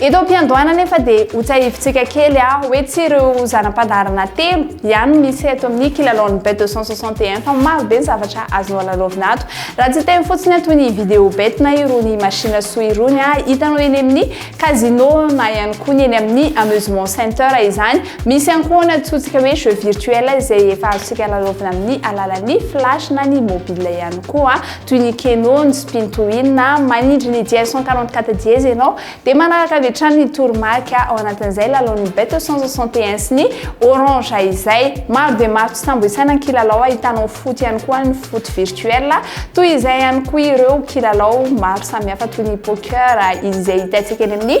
Eto am-piandohana anefa dia hotsahivin-tsika kely aho hoe tsy ireo zana-pandaharana telo ihany no misy eto amin'ny kilalaon'ny bet 261 fa maro be ny zavatra azonao lalaovina ato. Raha tsy hiteny fotsiny ato ny vidéo bet na irony machine sous irony ah, hitanao eny amin'ny casino na ihany koa ny eny amin'ny amusement center izany. Misy ihany koa ny antsointsika hoe jeux virtuels izay efa azontsika lalaovina amin'ny alalan'ny flash na ny mobile ihany koa. toy ny keno, ny spintoin, na manindry ny dièse cent quarante quatre dièse ianao, dia manaraka avy hatrany ny toromarika ao anatin'izay lalaon'ny Beto cent soixante et un sy ny Orange izay. Maro dia maro tsy tambo isaina ny kilalao ahitanao foot ihany koa ny foot virtuel, toy izay ihany koa ireo kilalao maro samihafa toy ny poker izay hitantsika eny amin'ny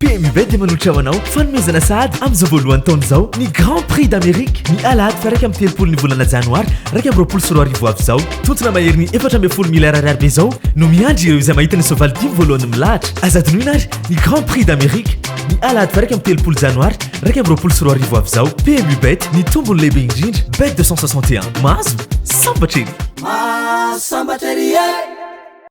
PMU-Bet dia manohitra ho anao fanomezana sahady amin'izao voalohan'ny taona izao ny Grand Prix d'Amérique ny alahady faha-iraika amby telopolon'ny volana janoary iraika amby roapolo sy roa arivo ho avy izao. Tontona maherin'ny efatra ambin'ny folo miliara ariary be izao no miandry ireo izay mahita ny soavaly dimy voalohany milahatra. Aza adinoina àry ny Grand Prix d'Amérique ny alahady faha-iraika amby telopolo janoary iraika amby roapolo sy roa arivo ho avy izao. PMU-Bet, ny tombony lehibe indrindra. Bet deux cent soixante et un. Mahazo sambatra ery! Mahazo sambatra ery e!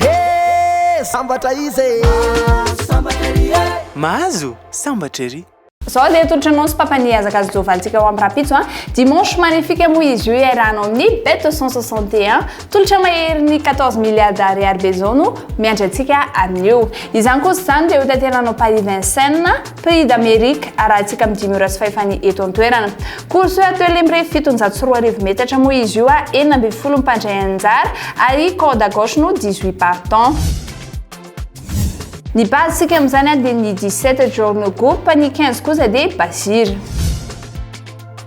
Hee sambatra izy e! Mahazo sambatra ery e! Mahazo sambatra ery! Zao dia tolotra anao sy papa ny hiazaka azy Jovan tsika ho am rapitso an. Dimanche magnifique moa izy io iarahanao amin'ny bet au 161. Tolotra maherin'ny 14 milliards ariary be zao no miandry antsika amin'io. Izany kosa izany dia ho tanteranao Paris Vincennes. Prix d'Amerique, arahantsika amin'ny dimy ora sy fahefany eto an-toerana. Course hoe atelier mirefy fitonjato sy roa arivo metatra moa izy io a, enina ambin'ny folo ny mpandray anjara ary corde à gauche no dix huit partants. Ny base sika amin'izany dia ny dix sept Journal Group, ny quinze kosa dia Bazir.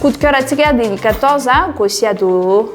Coup de cœur antsika dia ny 14 Gosia Doro.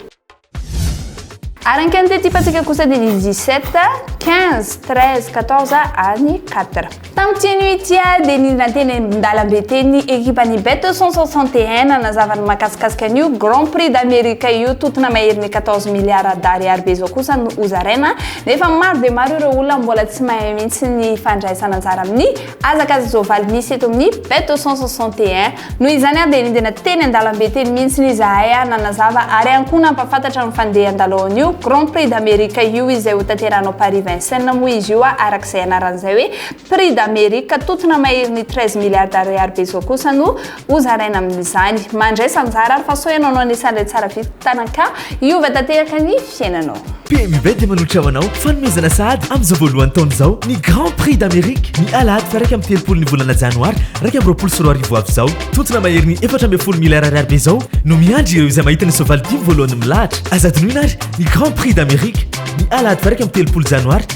Ary ny quintet type antsika kosa dia ny 17, 15, 13, 14 ary ny 4. Tamin'ity anio ity dia ny nanteny an-dalambe teny ny ekipan'ny Bet 161 nanazava ny mahakasikasika an'io Grand Prix d'America io tontona maherin'ny 14 milliards d'ariary be izao kosa no hozaraina nefa maro dia maro ireo olona mbola tsy mahay mihitsy ny fandraisana anjara amin'ny Hazakazaka izao valy misy eto amin'ny Bête au 161. Noho izany aho dia nidina teny an-dalambe teny mihitsiny izahay ary nanazava ary ihany koa nampahafantatra ny fandeha handaloan'io Grand Prix d'Amerique io izay ho tanterahina ao Paris Vincennes moa izy io araka izay anarany izay hoe Prix d'Amerique. Tontona maherin'ny treize milliards d'ariary be izao kosa no Ho zaraina amin'izany. Mandraisa anjara fa sao ianao no anisan'ilay tsara vitana ka hiova tanteraka ny fiainanao. PMB dia manohitra ho anao fanomezana sahady amin'izao voalohan'ny taona izao ny Grand Prix d'Amérique, ny alahady faha-iraika amby telopolo ny volana janoary iraika amby roapolo sy roa arivo ho avy izao. Tontona maherin'ny efatra ambin'ny folo miliyara ariary be izao no miandry ireo izay mahita ny soavaly dimy voalohany milahatra. Aza adinoina àry ny Grand Prix d'Amérique, ny alahady faha-iraika amby telopolo janoary.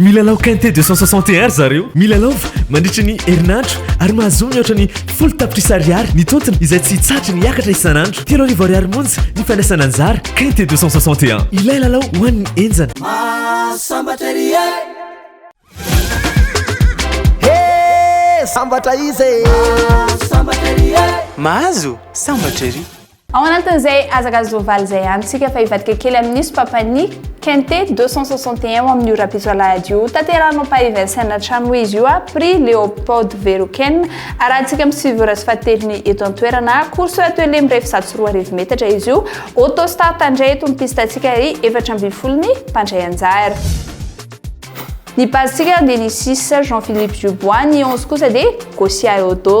Milalao quintet deux cent soixante et un ry zareo. Milalaova mandritry ny herinandro ary mahazoa mihoatra ny folo tapitrisa ariary ny tontony izay tsy hitsahatra ny hiakatra isan'andro. Telo arivo ariary monja ny fandraisana anjara. Quintet deux cent soixante et un, ilay lalao ho an'ny henjana. Mahasambatra ery e! He! Sambatra iza e! Mahasambatra ery e! Mahazo sambatra ery! Ao anatin'izay hazakazaka soavaly izay ihany isika fa hivadika kely amin'io sopapany Quinte deux cent soixante et un ao amin'io Rapisoalahady io. Tanterahinao Paris Vincennes hatrany moa izy io a Prix Léopold Véroquén arahantsika amin'ny sivy ora sy fahatelony eto an-toerana. Course atelier mirefy zato sy roa arivo metatra izy io. Auto start indray eto ny piste antsika ary efatra ambin'ny folo ny mpandray anjara. Ny base-ntsika dia ny six Jean Philippe Dubois, ny onze kosa dia Gosia Eodo.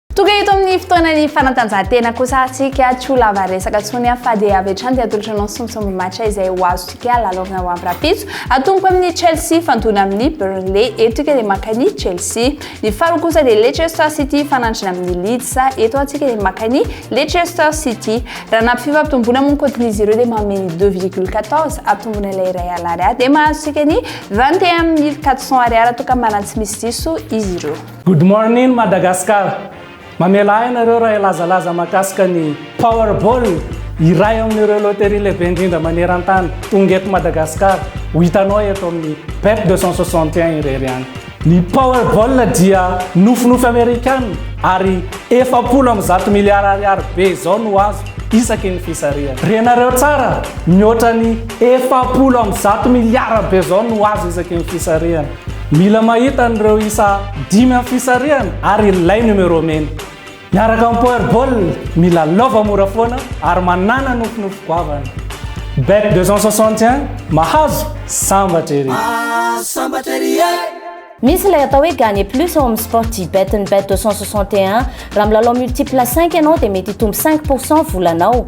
Tonga eto amin'ny fotoana ny fanatanjahantena kosa atsika tsy ho lava resaka tsony aho fa dia avy hatrany dia atolotra anao sombisomby match izay ho azontsika lalaovina ho avy rapitso atomboka amin'ny Chelsea fandona amin'ny Burnley eto tika dia maka ny Chelsea ny faharoa kosa dia Leicester City fanandrina amin'ny Leeds eto atsika dia maka ny Leicester City raha nampy fifampitomboana moa ny cotin'izy ireo dia manome ny 2,14 atomboana ilay iray alary ahy dia mahazo tsika ny 21 400 ariary toa ka manana tsy misy diso izy ireo Good morning Madagascar! Mamela ahy nareo raha hilazalaza mahakasika ny Powerball, iray amin'ireo loterie lehibe indrindra maneran-tany, tonga eto Madagasikara, ho hitanao eto amin'ny Bet 261 irery any. Ny Powerball dia nofinofy Amerikana ary efapolo amby zato miliara ariary be izao no azo isaky ny fisarihana. Renareo tsara, mihoatra ny efapolo amby zato miliara be izao no azo isaky ny fisarihana. Mila mahita an'ireo isa dimy amin'ny fisarihana ary ilay numéro mena. Miaraka amin'ny Powerball, mila lova mora foana ary manàna nofinofy goavana. Bet 261, mahazo, sambatra ery! Sambatra ery e! Misy ilay atao hoe Gagner plus ao amin'ny Sportybet-n'ny Bet 261. Raha milalao multiple cinq ianao dia mety hitombo cinq pour cent volanao.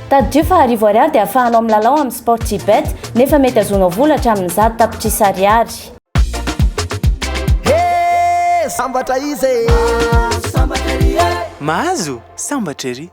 Tadidio fa arivo ariary dia afahanao milalao amin'ny Sportybet, nefa mety azonao vola hatramin'ny zato tapitrisa ariary. Hee! Sambatra iza e! Sambatra ery e! Mahazo? Sambatra ery!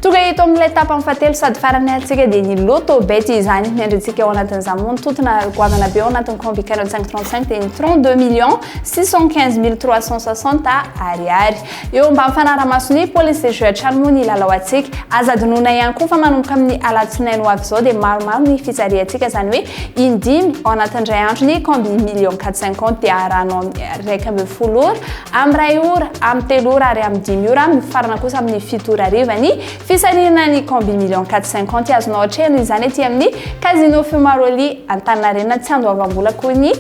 Tonga eto amin'ilay tapany fahatelo sady farany antsika dia ny Lotto Bet izany. Ny andrintsika ao anatin'izany moa ny tontona goavana be ao anatin'ny Combi 4535 dia ny 32 millions 615 mille 360 ariary. Eo mba mifanara-maso ny police de jeu hatrany moa ny lalao antsika. Aza adinoina ihany koa fa manomboka amin'ny alatsinainy ho avy izao dia maromaro ny fijaliantsika izany hoe in-dimy ao anatin'ny iray andro ny combi million quatre cinquante dia arahanao amin'ny iraika ambin'ny folo ora, amin'ny iray ora, amin'ny telo ora ary amin'ny dimy ora amin'ny farana kosa amin'ny fito ora hariva ny fisarihana ny combi million quatre cinquante azonao atrehina izany aty amin'ny casino Fumaroli Antaninarenina tsy andoavam-bola koa ny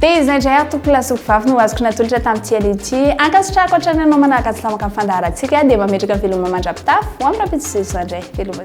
Dia izay indray ary tompoko lahy sy mpivavy no azoko natolotra tamin'ity aleo ity. Ankasitrahako hatrany anao manaraka sy lamaka ny fandaharantsika dia mba metraka veloma mandra-pitafy ho amin'ny rahampitso Jesoa indray. Veloma